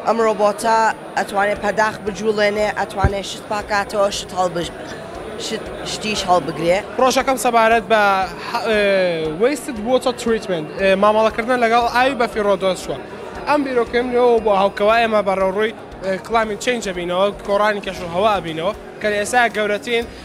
ئەم ڕۆبۆتە ئەتوانێ پەداخ بجوڵێنێ، ئەتوانێ شت پاکاتەوە، شت هەڵبژ شت شتیش هەڵبگرێ. پڕۆژەکەم سەبارەت بە Waste Water Treatment، مامەڵەکردنە لەگەڵ ئاوی بەفی ڕۆدۆز چووە. ئەم بیرۆکەم لەوە بووە هەو کەوا ئێمە بەڕەوڕووی Climate Change ئەبینەوە، گۆڕانی کەشوهەوا ئەبینەوە، کە لە ئێستا گەورەترین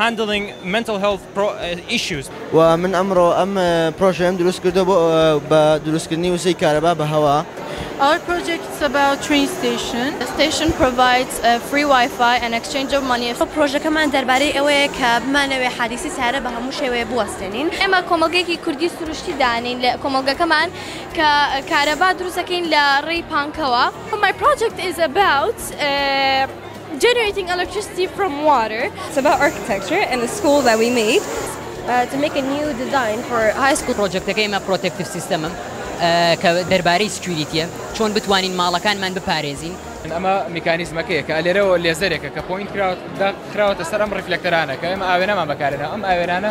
Handling Mental Health Issues. و من ئەمڕۆ ئەم پرۆژەیەم دروست کردووە بۆ بە دروستکردنی وزەی کارەبا بە هەوا. Our project is about train station. The station provides free Wi-Fi and exchange of money. پرۆژەکەمان دەربارەی ئەوەیە کە بمانەوێ حادیسی سەیارە بە هەموو شێوەیە بوەستێنین. ئێمە کۆمەڵگەیەکی کوردی سروشتی دانین لە کۆمەڵگەکەمان کە کارەبا دروست دەکەین لە ڕێی پانکەوە. My project is about. Generating electricity from water. It's about architecture and the school that we made to make a new design for high school. پڕۆجەکتەکەی ئێمە پڕۆتێکتیڤ سیستەمم کە دەربارەی سکیوریتیە چۆن بتوانین ماڵەکانمان بپارێزین. ئەمە میکانیزمەکەیە کە لێرەوە لێزەرێکە کە پۆینت کراوە داخراوەتە سەر ئەم ڕیفلەکتەرانە کە ئێمە ئاوێنەمان بەکارهێناوە ئەم ئاوێنانە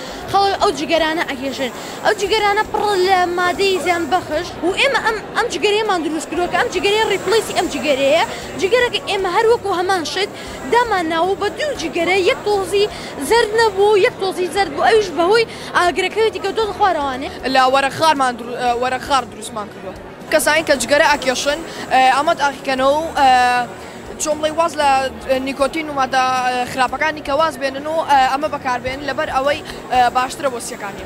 خەڵک ئەو جگەرانە ئەکێشن ئەو جگەرانە پڕ لە مادەی زیان بەخش و ئێمە ئەم ئەم جگەرەیەمان دروست کردوە کە ئەم جگەرەیە ڕیپڵەیسی ئەم جگەرەیە جگەرەکە ئێمە هەر وەکو هەمان شت دامان ناوە بە دوو جگەرە یەک تۆزی زەرد نەبوو یەک تۆزی زەرد بوو ئەویش بەهۆی ئاگرەکەوێتی کە دۆزە خوارەوانێ. لە وەرەق خارمان وەرەق خار دروستمان کردوە کەسانی کە جگەرە ئەکێشن ئەمە تاقیکەنەوە و. جومڵەی واز لە نیکۆتین و مادە خراپەکانی کە واز بێنن و ئەمە بەکاربێن لەبەر ئەوەی باشترە بۆ سیەکانی.